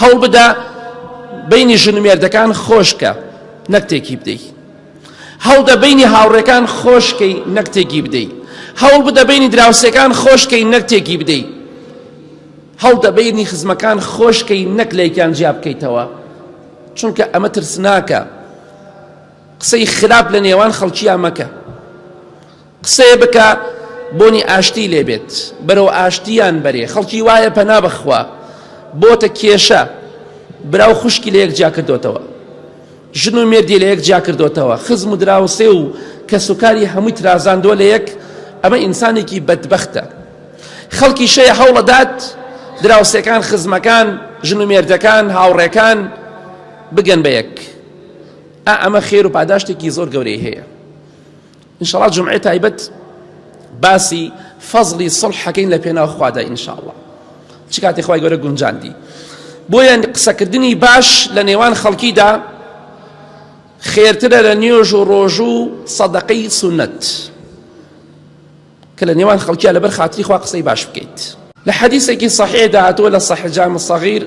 هەوڵبدە بەینی ژن و مێردەکان خۆشکە نەک تێکی بدەی هەوڵدە بەینی هاوڕێکان خۆشکەی نەک تێکی بدەی هەوڵ بدە بەینی دراوسێکان خۆشکەی نەک تێکی بدەی هەوڵدە بەینی خزمەکان خۆشکەی نەک لەیکیان جیا بکەیتەوە چونکە ئەمە ترسناکە قسەی خراپ لە نێوان خەڵکییا مەکە قسەێ بکە بۆنی ئاشتی لێ بێت بەرەو ئاشتیان بەرێ خەڵکی وایە پەنا بەخوا بۆتە کێشە براو خوشکی لە یەک جیا کردوتەوە ژن و مێردی لە یەک جیا کردوتەوە خزم و دراوسێ و کەسوکاری هەمووی ترازاندووە لە یەک ئەمە ئینسانێکی بەدبەختە خەڵکی شەیە هەوڵەدات دراوسەکان خزمەکان ژن و مێردەکان هاوڕێکان بگەن بە یەک ئا ئەمە خێر و پاداشتێکی زۆر گەورەی هەیە انشاءاللە جومعەی تایبەت باسی فەزڵی سڵح حەکەین لە پێناو خوادا انشاءاللە چ کاتی خوای گەورە گونجاندی بۆیان قسەکردنی باش لە نێوان خەڵکیدا خێرترە لە نوێژ و ڕۆژ و سەدەقەی سونەت کە لە نێوان خەڵکیان لەبەر خاتری خوا قسەی باش بکەیت لە حەدیسێکی صحیح داهاتووە لە صحیح جامع صغیر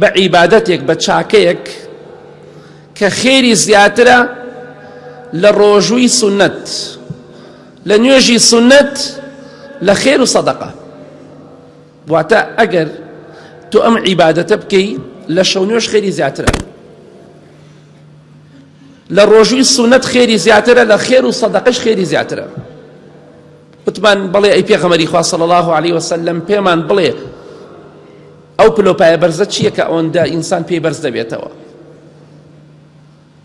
بە عیبادەتێک بە چاکەیەک کە خێری زیاترە لە ڕۆژووی سنت لە نوێژی سنت لە خێر و سەدەقە واتە ئەگەر تۆ ئەم عیبادەتە بکەی لە شەو نوێش خێری زیاترە لە ڕۆژووی سونەت خێری زیاترە لە خێر و سەدەقش خێری زیاترە وتمان بڵێ ئەی پێغەمەری خوا صلی الله عليه وسلم پێمان بڵێ ئەو پلەو پایە بەرزە چیە کە ئەوەندە ئینسان پێی بەرز دەبێتەوە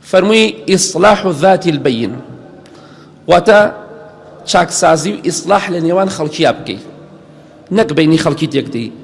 فەرمووی ئیسلاح و ذاتی البین واتە چاکسازی و ئیسلاح لە نێوان خەڵکییا بکەیت نەک بینی خەڵکی تێکدەی